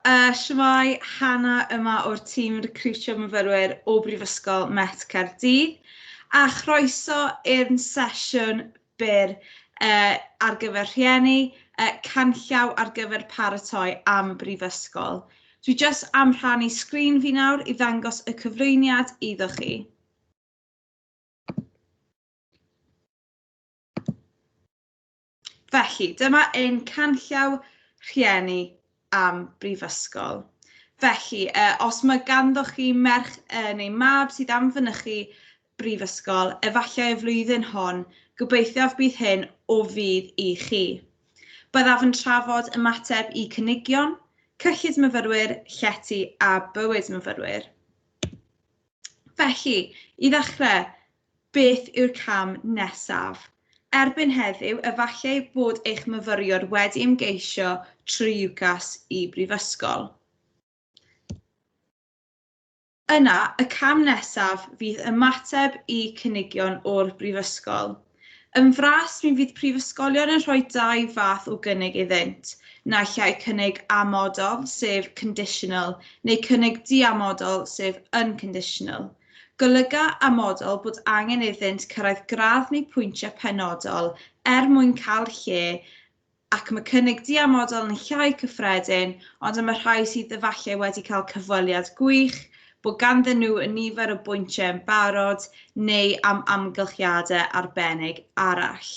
Uh, Shwmai, Hanna yma o'r tîm recriwtio myfyrwyr o Brifysgol Met Caerdydd a chroeso i'r sesiwn byr uh, ar gyfer rhieni, uh, canllaw ar gyfer paratoi am y brifysgol. Dwi jyst am rhannu sgrin fi nawr i ddangos y cyflwyniad iddo chi. Felly, dyma ein canllaw rhieni am brifysgol. Felly, uh, os mae ganddo chi merch uh, neu mab sydd am fynychu brifysgol, efallai y flwyddyn hon, gobeithiaf bydd hyn o fydd i chi. Byddaf yn trafod ymateb i cynigion, cyllid myfyrwyr, llety a bywyd myfyrwyr. Felly, i ddechrau, beth yw'r cam nesaf? Erbyn heddiw, efallai bod eich myfyriwr wedi ymgeisio trwy UCAS i brifysgol. Yna, y cam nesaf fydd ymateb i cynigion o'r brifysgol. Yn fras, mi fydd prifysgolion yn rhoi dau fath o gynnig iddynt, naill ai cynnig amodol, sef conditional, neu cynnig diamodol, sef unconditional. Golyga amodol bod angen iddynt cyrraedd gradd neu pwyntiau penodol er mwyn cael lle ac mae cynnig diamodol yn llai cyffredin, ond am y rhai sydd efallai wedi cael cyfweliad gwych, bod ganddyn nhw nifer o bwyntiau yn barod, neu am amgylchiadau arbennig arall.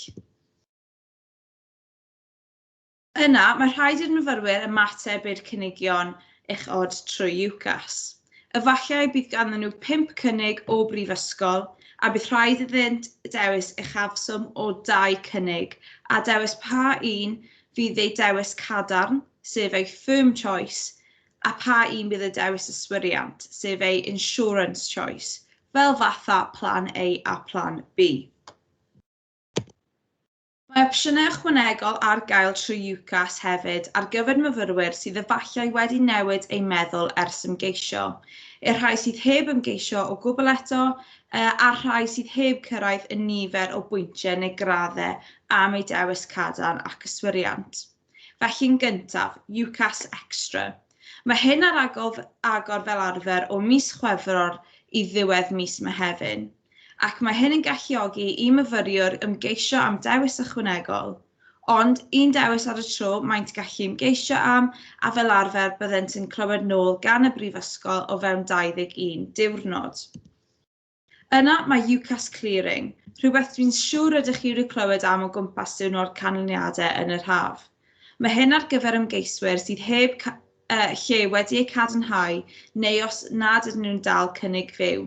Yna, mae rhaid i'r myfyrwyr ymateb i'r cynigion uchod trwy UCAS. Efallai bydd ganddyn nhw pump cynnig o brifysgol a bydd rhaid iddynt dewis uchafswm o dau cynnig a dewis pa un fydd eu dewis cadarn, sef eu firm choice, a pha un bydd eu dewis yswiriant, sef eu insurance choice, fel fatha Plan A a Plan B. Mae opsiynau ychwanegol ar gael trwy UCAS hefyd ar gyfer myfyrwyr sydd efallai wedi newid eu meddwl ers ymgeisio, i'r rhai sydd heb ymgeisio o gwbl eto, a'r rhai sydd heb cyrraedd y nifer o bwyntiau neu graddau am eu dewis cadarn ac yswiriant. Felly'n gyntaf, UCAS Extra. Mae hyn ar agor fel arfer o mis Chwefror i ddiwedd mis Mehefin, ac mae hyn yn galluogi i myfyriwr ymgeisio am dewis ychwanegol, ond un dewis ar y tro maent gallu ymgeisio am, a fel arfer byddent yn clywed nôl gan y Brifysgol o fewn 21 diwrnod. Yna mae UCAS Clearing, rhywbeth dwi'n siwr rydych chi wedi clywed am o gwmpas diwrnod canlyniadau yn yr haf. Mae hyn ar gyfer ymgeiswyr sydd heb uh, lle wedi eu cadarnhau neu os nad ydyn nhw'n dal cynnig fyw.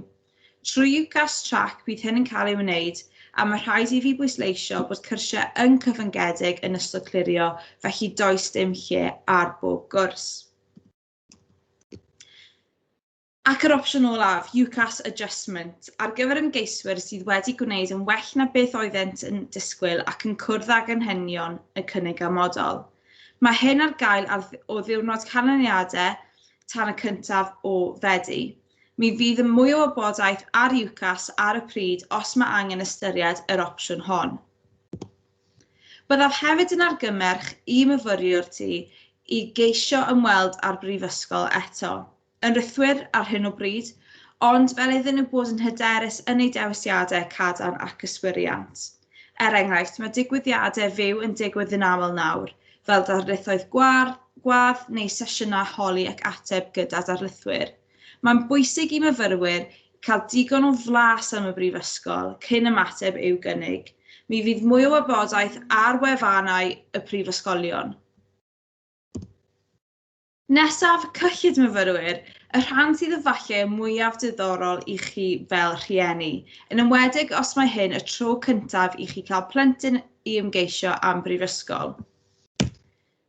Trwy UCAS Track bydd hyn yn cael ei wneud a mae rhaid i fi bwysleisio bod cyrsiau yn cyfyngedig yn ystod clirio felly does dim lle ar bob gwrs. Ac yr opsiwn olaf, UCAS Adjustment, ar gyfer ymgeiswyr sydd wedi gwneud yn well na beth oeddent yn disgwyl ac yn cwrdd ag anghenion y cynnig amodol. Mae hyn ar gael ar o ddiwrnod canlyniadau tan y cyntaf o Fedi. Mi fydd yn mwy o wybodaeth ar UCAS ar y pryd os mae angen ystyried yr opsiwn hon. Byddaf hefyd yn argymmerch i myfyriwr ti i geisio ymweld â'r Brifysgol eto. yn rithwir ar hyn o bryd, ond fel iddyn nhw bod yn hyderus yn eu dewisiadau cadarn ac yswiriant. Er enghraifft, mae digwyddiadau fyw yn digwydd yn aml nawr, fel darlithoedd gwar, gwadd neu sesiynau holi ac ateb gyda darlithwyr. Mae'n bwysig i myfyrwyr cael digon o flas am y Brifysgol cyn ymateb i'w gynnig. Mi fydd mwy o wybodaeth ar wefannau y prifysgolion. Nesaf, cyllid myfyrwyr, y rhan sydd efallai y mwyaf diddorol i chi fel rhieni, yn enwedig os mae hyn y tro cyntaf i chi cael plentyn i ymgeisio am brifysgol.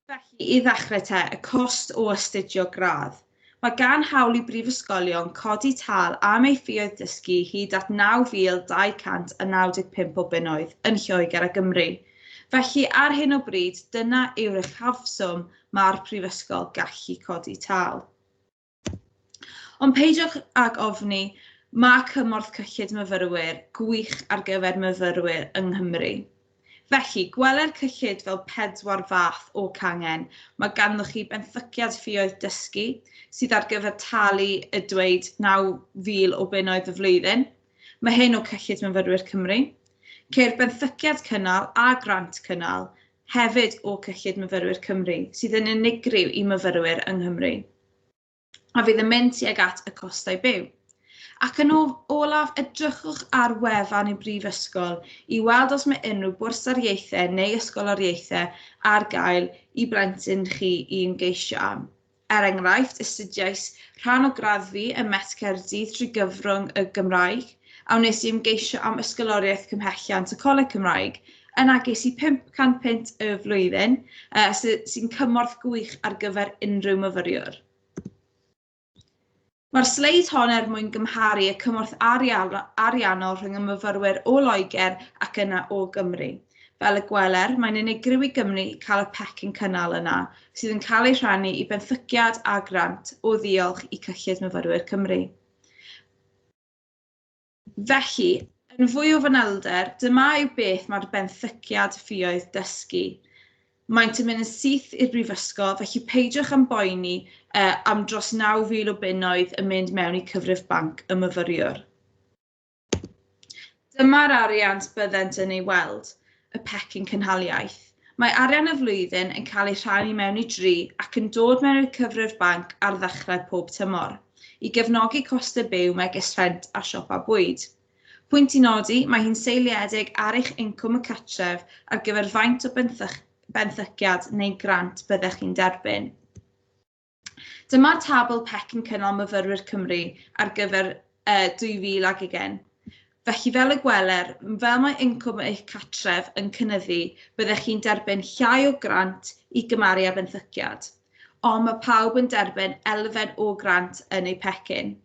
Felly, i ddechrau te, y cost o astudio gradd. Mae gan hawl i brifysgolion codi tâl am ei ffioedd dysgu hyd at 9,295 o bunnoedd yn Lloegr a Gymru. Felly, ar hyn o bryd, dyna yw'r uchafswm mae'r prifysgol gallu codi tâl. Ond peidiwch ag ofni, mae cymorth cyllid myfyrwyr gwych ar gyfer myfyrwyr yng Nghymru. Felly, gweler cyllid fel pedwar fath o cangen. Mae ganddoch chi benthyciad ffioedd dysgu sydd ar gyfer talu y dweud 9,000 o bunnoedd y flwyddyn. Mae hyn o cyllid myfyrwyr Cymru. Ceir benthyciad cynnal a grant cynnal hefyd o cyllid myfyrwyr Cymru, sydd yn unigryw i myfyrwyr yng Nghymru, a fydd yn mynd tuag at y costau byw. Ac yn olaf, edrychwch ar wefan y Brifysgol i weld os mae unrhyw bwrsariaethau neu ysgoloriaethau ar gael i blentyn chi i'n geisio am. Er enghraifft, astudiais rhan o graddfi ym Met Caerdydd drwy gyfrwng y Gymraeg, a wnes i ymgeisio am Ysgoloriaeth Cymhelliant y Coleg Cymraeg. Yna ges i 500 punt y flwyddyn, sy'n cymorth gwych ar gyfer unrhyw myfyriwr. Mae'r sleid hon er mwyn gymharu y cymorth ariannol rhwng y myfyrwyr o Loegr ac yna o Gymru. Fel y gweler, mae'n unigryw i Gymru cael y pecyn cynnal yna, sydd yn cael ei rhannu i benthyciad a grant o ddiolch i Cyllid Myfyrwyr Cymru. Felly, yn fwy o fanylder, dyma yw beth mae'r benthyciad ffioedd dysgu. Maent yn mynd yn syth i'r brifysgol, felly peidiwch am boeni uh, am dros 9,000 o bunnoedd yn mynd mewn i cyfrif banc y myfyriwr. Dyma'r arian byddent yn ei weld. y pecyn cynhaliaeth. Mae arian y flwyddyn yn cael ei rhannu mewn i dri ac yn dod mewn i'r cyfrif banc ar ddechrau pob tymor, i gefnogi costau byw megis rhent a siopa bwyd. Pwynt i nodi, mae hi'n seiliedig ar eich incwm y cartref ar gyfer faint o benthyciad neu grant byddech chi'n derbyn. Dyma'r tabl PEC yn cynnal myfyrwyr Cymru ar gyfer uh, 2020. Felly fel y gweler, fel mae incwm eich catref yn cynnyddu, byddech chi'n derbyn llai o grant i gymaru â benthyciad. Ond mae pawb yn derbyn elfen o grant yn eu pecyn.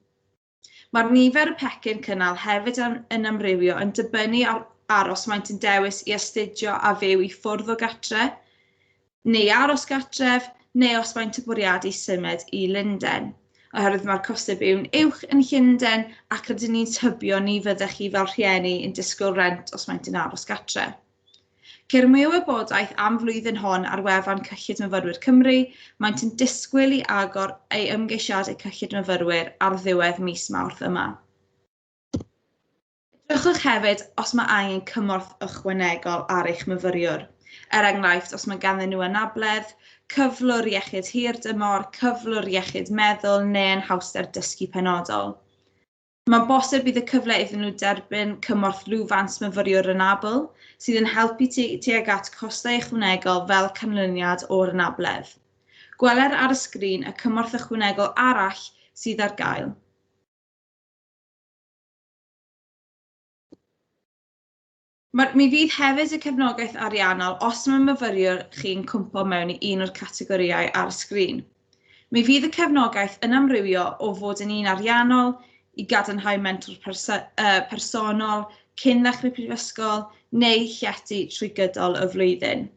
Mae'r nifer y pecyn cynnal hefyd yn amrywio yn dibynnu ar ar os maent yn dewis i astudio a fyw i ffwrdd o gatre, neu aros gatref, neu os maent yn bwriadu symud i Lundain. Oherwydd mae'r costau byw'n uwch yn Llundain ac rydyn ni'n tybio ni fyddech chi fel rhieni yn disgwyl rent os maent yn aros gatref. Ceir mwy o wybodaeth am flwyddyn hon ar wefan Cyllid Myfyrwyr Cymru, maent yn disgwyl i agor ei ymgeisiadau Cyllid Myfyrwyr ar ddiwedd mis Mawrth yma. Edrychwch hefyd os mae angen cymorth ychwanegol ar eich myfyriwr, er enghraifft os mae ganddyn nhw anabledd, cyflwr iechyd hirdymor, cyflwr iechyd meddwl neu anhawster dysgu penodol. Mae'n bosib bydd y cyfle iddyn nhw derbyn cymorth lwfans myfyriwr anabl, sydd yn helpu tu- tuag at costau ychwanegol fel canlyniad o'r anabledd. Gweler ar y sgrin y cymorth ychwanegol arall sydd ar gael. Mae, mi fydd hefyd y cefnogaeth ariannol os mae myfyriwr chi'n cwmpo mewn i un o'r categorïau ar y sgrin. Mi fydd y cefnogaeth yn amrywio o fod yn un ariannol i gadarnhau mentor perso uh, personol cyn ddechrau prifysgol neu llety trwy gydol y flwyddyn.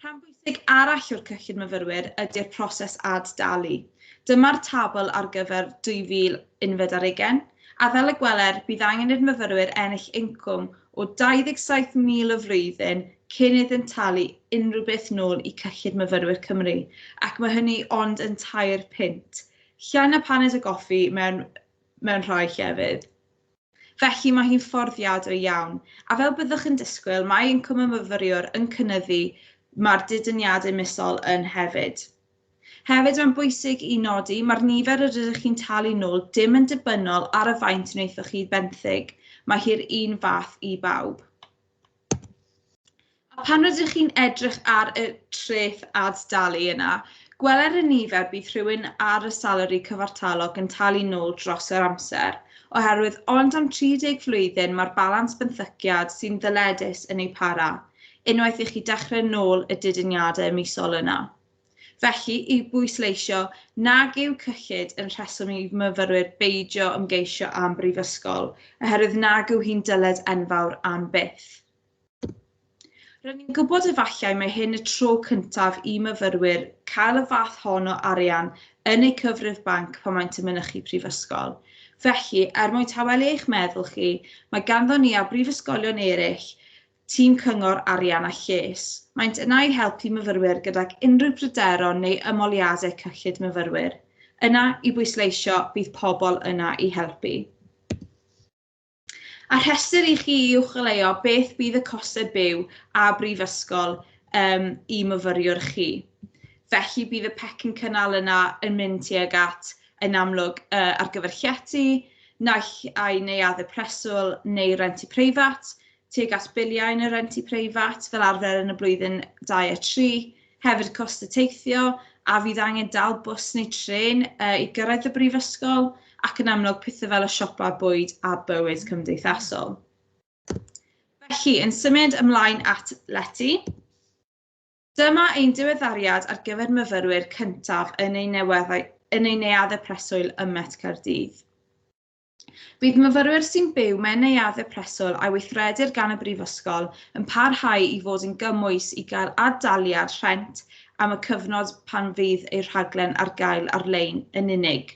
Rhan bwysig arall o'r cyllid myfyrwyr ydy'r proses ad-dalu. Dyma'r tabl ar gyfer 2000 unfed ar ugen, a fel y gweler, bydd angen i'r myfyrwyr ennill incwm o 27,000 y flwyddyn cyn iddynt talu unrhyw beth nôl i Cyllid Myfyrwyr Cymru, ac mae hynny ond yn tair punt. Llai na paned o goffi mewn, mewn rhai llefydd. Felly mae hi'n fforddiadwy iawn, a fel byddwch yn disgwyl, mae incwm y myfyriwr yn cynyddu, mae'r didyniadau misol yn hefyd. Hefyd, mae'n bwysig i nodi, mae'r nifer yr ydych chi'n talu nôl dim yn dibynnol ar y faint wnaethoch chi benthyg, mae hi'r un fath i bawb. A pan rydych chi'n edrych ar y treth ad-dalu yna, gweler y nifer bydd rhywun ar y salari cyfartalog yn talu nôl dros yr amser, oherwydd ond am 30 flwyddyn mae'r balans benthyciad sy'n ddyledus yn ei para, unwaith i chi dechrau nôl y didyniadau misol yna. Felly, i bwysleisio nag yw cyllid yn rheswm i myfyrwyr beidio ymgeisio am brifysgol, oherwydd nag yw hi'n dyled enfawr am byth. Rydyn ni'n gwybod efallai mae hyn y tro cyntaf i myfyrwyr cael y fath hon o arian yn eu cyfrif banc pan maent yn mynychu prifysgol. Felly, er mwyn tawelu eich meddwl chi, mae ganddo ni a brifysgolion eraill Tîm Cyngor Arian a Lles. Maent yna i helpu myfyrwyr gydag unrhyw bryderon neu ymholiadau cyllid myfyrwyr. Yna i bwysleisio, bydd pobl yna i helpu. A rhestr i chi i uwcholeuo beth bydd y costau byw a brifysgol um, i myfyriwr chi. Felly bydd y pecyn cynnal yna yn mynd tuag at, yn amlwg, uh, ar gyfer llety, naill ai neuaddau preswyl neu renti preifat, tuag at biliau yn y rent i preifat fel arfer yn y blwyddyn 2 a 3, hefyd cost y teithio a fydd angen dal bws neu tren uh, i gyrraedd y brifysgol ac yn amlwg pethau fel y siopa bwyd a bywyd cymdeithasol. Felly, yn symud ymlaen at leti, dyma ein diweddariad ar gyfer myfyrwyr cyntaf yn ein, yn ein neuaddau preswyl ym Met Caerdydd. Bydd myfyrwyr sy'n byw mewn neuaddau preswyl a weithredir gan y Brifysgol yn parhau i fod yn gymwys i gael ad-daliad rhent am y cyfnod pan fydd eu rhaglen ar gael ar-lein yn unig.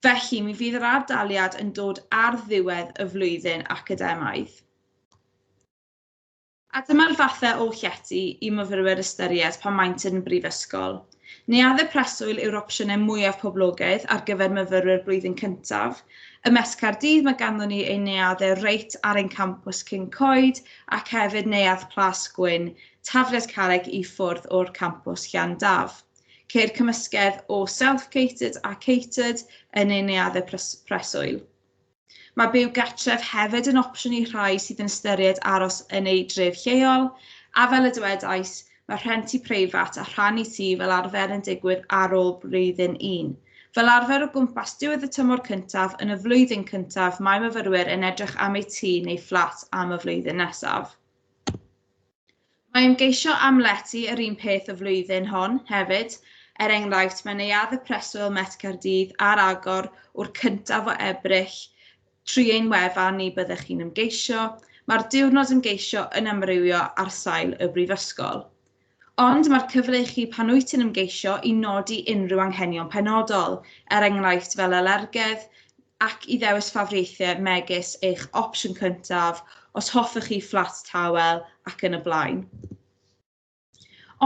Felly, mi fydd yr ad-daliad yn dod ar ddiwedd y flwyddyn academaidd. A dyma'r fathau o llety i myfyrwyr ystyried pan maent yn y brifysgol. Neuaddau preswyl yw'r opsiynau mwyaf poblogaidd ar gyfer myfyrwyr blwyddyn cyntaf. Ym Mhest Caerdydd mae ganddon ni ein neuaddau reit ar ein campws cyn coed ac hefyd neuadd Plas Gwyn, Tafliad Carreg i ffwrdd o'r campws Llan Daf. Ceir cymysgedd o self-catered a catered yn ein neuaddau preswyl. Mae byw gartref hefyd yn opsiwn i rhai sydd yn ystyried aros yn eu dref lleol, a fel y dywedais, mae rhentu preifat a rhannu tŷ fel arfer yn digwydd ar ôl blwyddyn un. Fel arfer o gwmpas diwedd y tymor cyntaf yn y flwyddyn cyntaf mae myfyrwyr yn edrych am eu tŷ neu fflat am y flwyddyn nesaf. Mae ymgeisio am lety yr un peth y flwyddyn hon hefyd, er enghraifft mae Neuadd y Preswyl Met Caerdydd ar agor wr cyntaf o Ebrill, trwy ein wefan ni byddech chi'n ymgeisio, mae'r diwrnod ymgeisio yn amrywio ar sail y brifysgol. Ond mae'r cyfle i chi pan wyt ti'n ymgeisio i nodi unrhyw anghenion penodol, er enghraifft fel alergedd, ac i ddewis ffafriaethau megis eich opsiwn cyntaf, os hoffech chi fflat tawel, ac yn y blaen.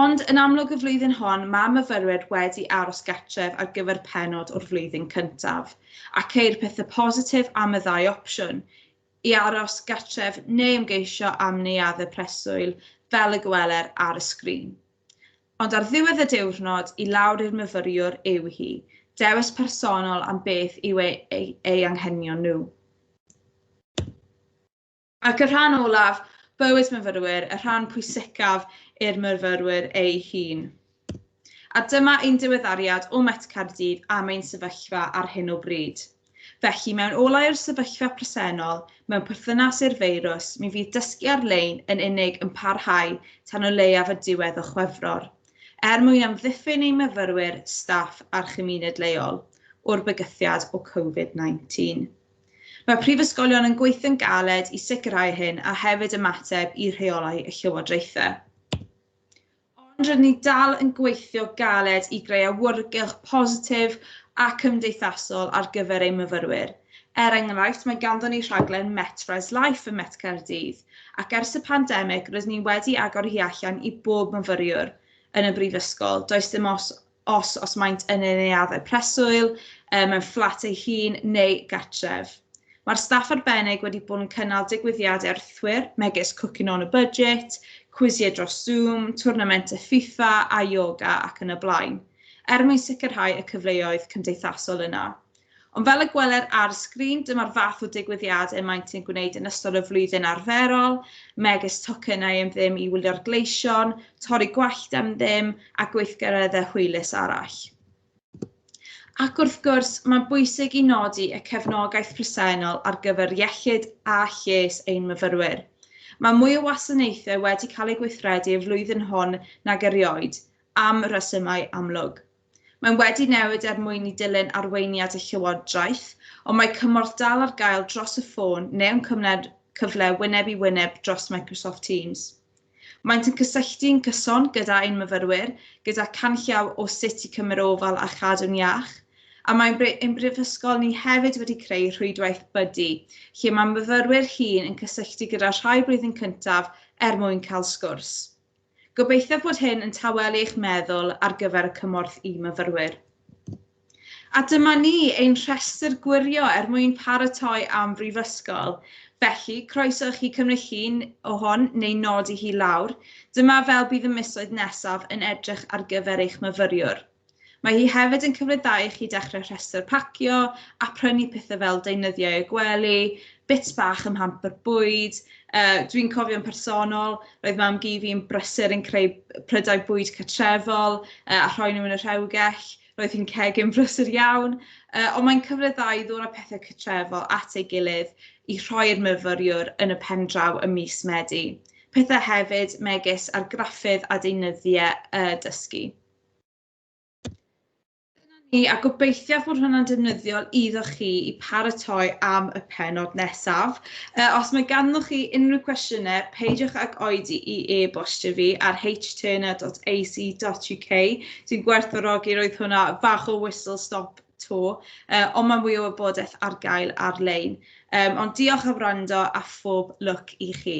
Ond, yn amlwg y flwyddyn hon, mae myfyrwyr wedi aros gartref ar gyfer pennod o'r flwyddyn cyntaf, a ceir pethau positif am y ddau opsiwn, i aros gartref neu ymgeisio am neuaddau preswyl, fel y gweler ar y sgrin. Ond ar ddiwedd y diwrnod, i lawr i'r myfyriwr yw hi, dewis personol am beth yw ei, ei, ei anghenion nhw. Ac y rhan olaf, bywyd myfyrwyr, y rhan pwysicaf i'r myfyrwyr ei hun. A dyma ein diweddariad o Met Caerdydd am ein sefyllfa ar hyn o bryd. Felly, mewn olau o'r sefyllfa presennol, mewn perthynas i'r feirws, mi fydd dysgu ar-lein yn unig yn parhau tan o leiaf y diwedd o Chwefror, er mwyn amddiffyn ein myfyrwyr, staff a'r chymuned leol o'r bygythiad o Covid 19. Mae prifysgolion yn gweithio'n galed i sicrhau hyn a hefyd ymateb i rheolau y llywodraethau. Ond rydyn ni dal yn gweithio galed i greu awyrgylch positif a cymdeithasol ar gyfer ein myfyrwyr. Er enghraifft, mae ganddon ni rhaglen Met Res Life ym Met Caerdydd, ac ers y pandemig rydyn ni wedi agor hi allan i bob myfyriwr yn y brifysgol, does dim os os, os maent yn ei neuaddau preswyl, um, mewn fflat ei hun neu gartref. Mae'r staff arbennig wedi bod yn cynnal digwyddiadau arthwyr megis Cooking on a Budget, cwisiau dros Zoom, twrnamentau FIFA a yoga ac yn y blaen, er mwyn sicrhau y cyfleoedd cymdeithasol yna. Ond fel y gweler ar y sgrin, dyma'r fath o digwyddiadau y maent yn gwneud yn ystod y flwyddyn arferol, megis tocynnau am ddim i wylio'r gleision, torri gwallt am ddim a gweithgareddau hwylus arall. Ac wrth gwrs, mae'n bwysig i nodi y cefnogaeth presennol ar gyfer iechyd a lles ein myfyrwyr. Mae mwy o wasanaethau wedi cael eu gweithredu y flwyddyn hon nag erioed, am resymau amlwg. Mae'n wedi newid er mwyn i dilyn arweiniad y Llywodraeth, ond mae cymorth dal ar gael dros y ffôn neu'n cyfle wyneb i wyneb dros Microsoft Teams. Maent yn cysylltu'n gyson gyda ein myfyrwyr gyda canllaw o sut i cymryd ofal a chadw'n iach, a mae ein Brifysgol ni hefyd wedi creu rhwydwaith Buddy lle mae myfyrwyr hŷn yn cysylltu gyda rhai blwyddyn cyntaf er mwyn cael sgwrs. Gobeithio bod hyn yn tawelu eich meddwl ar gyfer y cymorth i myfyrwyr. A dyma ni, ein rhestr gwirio er mwyn paratoi am Brifysgol. Felly, croeso i chi cymryd llun o hon neu nodi hi lawr. Dyma fel bydd y misoedd nesaf yn edrych ar gyfer eich myfyriwr. Mae hi hefyd yn cyfleddau i chi dechrau rhestr pacio a prynu pethau fel deunyddiau y gwely, bits bach ym hamper bwyd. Uh, Dwi'n cofio'n personol, roedd mam gi fi'n brysur yn creu prydau bwyd catrefol uh, a rhoi nhw yn y rhewgell. Roedd hi'n cegin brysur iawn, uh, ond mae'n cyfleddau i ddod â pethau catrefol at ei gilydd i rhoi'r myfyriwr yn y pen draw y mis Medi. Pethau hefyd megis argraffydd a deunyddiau uh, dysgu. ni a gobeithiaf bod hwnna'n defnyddiol iddo chi i paratoi am y penod nesaf. Uh, os mae ganddoch chi unrhyw cwestiynau, peidiwch ag oedi i e-bostio fi ar hturner.ac.uk. Dwi'n gwerthfawrogi roedd hwnna fach o whistle stop to, uh, ond mae mwy o wybodaeth ar gael ar-lein. Um, ond diolch am wrando a phob lwc i chi.